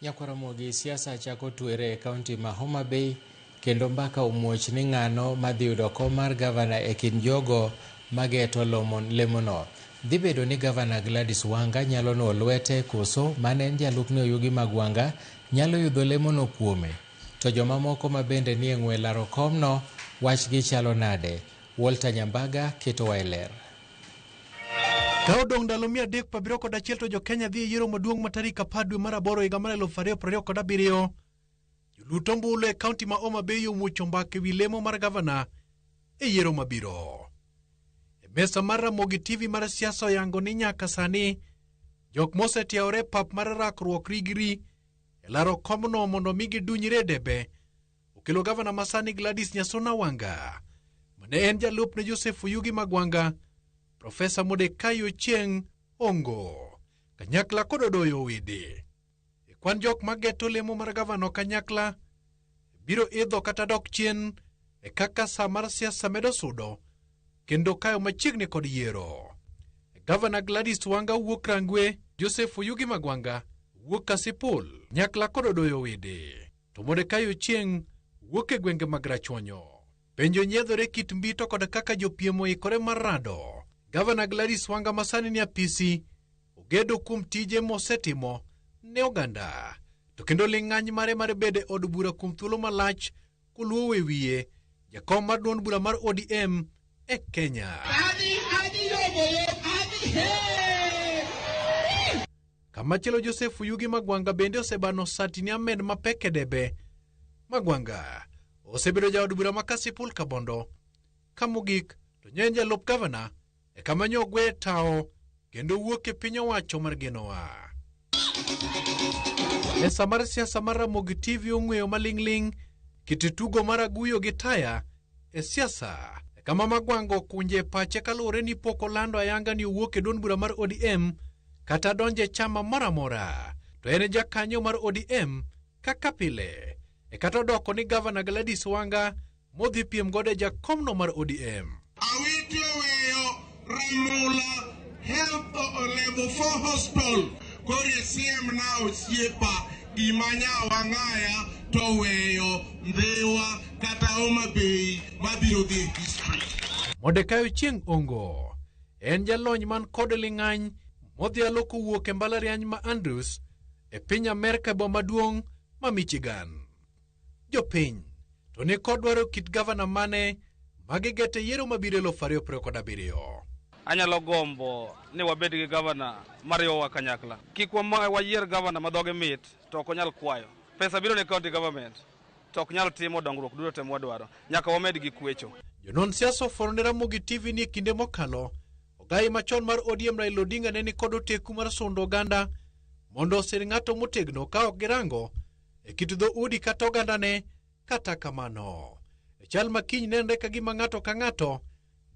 Nyakwaramogi, siasa chako twere e kaunti ma Homa Bay kendo mbaka omuoch ni ng'ano madhi yudo kom mar gavana e kind jogo mageto lemono. Dhi bedo ni gavana Gladys Wanga nyalo nuo lwete koso mane en jalupne Oyugi Magwanga nyalo yudho lemono kuome? To jomamoko mabende nie ng'we laro komno wachgi chalo nade? Walter Nyambaga ketowa e ler. Ka odong' ndalo mia adek prabiriyo kod achiel to jo-Kenya dhi e yiero maduong' ma tarik apar dwe mar aboro higa mar eluf ariyo prariyo kod abiriyo. Jolut ombulu e kaunti ma Homa Bay omuocho mbaka ewi lemo mar gavana e yiero mabiro. E mesa mar Ramogi TV mar siasa oyango ni nyaka sani jok mosetiaore pap mar rakruok rigri e laro komno mondo mi gidunyre e debe okelo gavana masani Gladys Nyasona Wanga ma ne en jalup ne Joseph Oyugi Magwanga, Profesa Modekai Ochieng Ongo, kanyakla kod Odoyo Owidi. E kwan jok ma geto lemo mar gavana kanyakla biro idho kata dok chien e kaka sa mar siasa medo sudo kendo kayo machiegni kod yiero. Gavana Gladys Wanga wuok Rangwe, Joseph Oyugi Magwanga wuok Kasipul, nyakla kod Odoyo Owidi. To Modekai Ochieng wuok e gwenge mag Rachuonyo. Penjo nyiedhore kit mbito kod kaka jopiem oikore mar rado. Gavana Gladys Wanga masani ni apisi ogedo kuom tije mosetimo ne oganda. To kendo ling'any mare mar bedo e od bura kuom thuolo malach koluwo e wiye jakom mar duond bura mar ODM e Kenya. Adi, adi, yobo, yo, adi, hey! Kamachielo Joseph Yugi Magwanga bende osebano sati ni Ahmed mapek e debe. Magwanga osebedo jaod bura ma Kasipul Kabondo. Ka mogik to nyo en jalup gavana e kama nyo ogwe tawo kendo wuok e piny owacho mar Genoa. Mesa mar siasa mar Ramogi TV ong'weyo maling'ling' kit tugo mar aguyo gi taya e siasa e kama Magwango kunje pache kaluwore ni pok olando ayanga ni owuok e duond bura mar ODM kata donjo e chama moro amora to en e jakanyo mar ODM kaka pile e kata odoko ni gavana Gladys Wanga modhi piem godo e jakomno mar ODM. Awinjo Ramola Health Level 4 Hospital koro isiem na osiepa gima nyawang'aya to weyo Ndhiwa kata Homa Bay mabiro dhi e history. Modekayo Chieng' Ongo en jalony man kod ling'any modhialo kowuok e mbalariany ma Andrews e piny Amerka e boma maduong' ma Michigan. Jopiny to ni kod dwaro kit gavana mane ma gigeto e yiero mabiro eluf ariyo piero kod abiriyo. Anyalo gombo ni wabed gi gavana mariwowa kanyakla. Kik wama- wayier gavana ma dhoge mit to ok onyal kwayo. Pesa biro ne county government to ok nyal timo dongruok duto te mwadwaro. Nyaka wamed gi kwecho. Jonon siasa ofworo ne Ramogi TV ni e kinde mokalo, ogayi machon mar ODM Raila Odinga ne ni kod oteku mar sundo oganda mondo osir ng'ato motegno ka ok girango e kit dhoudi kata ogandane. Kata kamano, e chal ma kiny nenre ka gima ng'ato ka ng'ato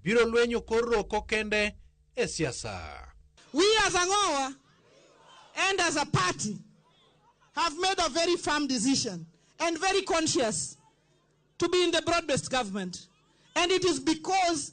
biro lwenyo kor roko kende e siasa. We as Ang'owa and as a party have made a very firm decision and very conscious to be in the broad-based government. And it is because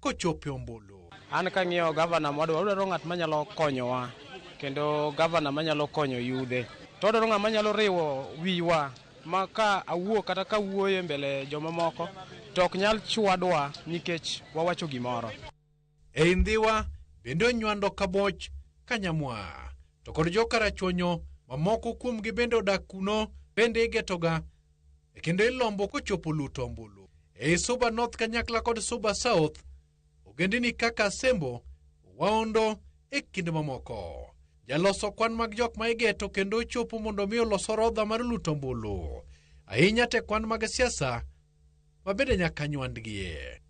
kochopo e ombulu. An kang'iyo gavana mwadwa, wadwaro ng'at manyalo konyowa kendo gavana manyalo konyo yudhe, to wadwaro ng'at manyalo riwo wiwa ma ka awuo kata ka wuoyo e mbele jomamoko to ok nyal chwadwa nikech wawacho gimoro. Ei Ndhiwa bende onywando Kaboch, Kanyamwa, to kod jo Karachuonyo mamoko kuomgi bende odak kuno bende igetoga e kendo ilombo kochopo luto ombulu. Ei Suba North kanyakla kod Suba South, ogendini kaka Asembo, Waondo e kind mamoko. Jaloso kwan mag jok ma igeto kendo ochopo mondo mi olos orodha mar luto ombulu, ahinya te kwan mag siasa ma bende nyaka nywandgie.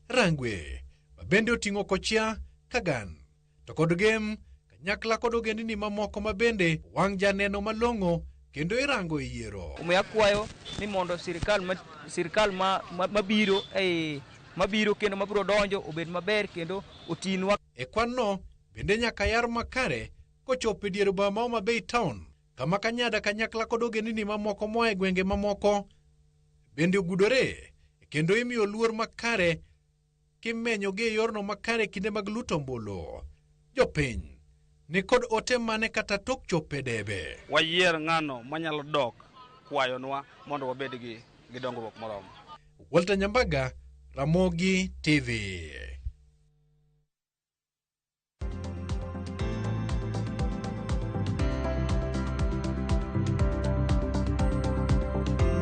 Rangwe ma bende oting'o Kochia Kagan to kod gem kanyakla kod ogendini mamoko ma bende wang' janeno malong'o kendo irango e yiero. Omiyo akwayo ni mondo sirkal ma sirkal ma ma- mabiro ei mabiro kendo mabiro donjo obed maber kendo otinwa E kwanno bende nyaka yar makare kochopo e dier boma Homa Bay Town kama kanyada kanyakla kod ogendini mamoko moa e gwenge mamoko bende ogudore kendo imiyo luor makare kimenyogi e yorno makare kinde mag luto ombulu. Jopiny ni kod ote mane kata tok chopo e debe? Wayier ng'ano manyalo dok kwayonwa mondo wabed gi, gi dongruok moromo. Walter Nyambaga, Ramogi TV.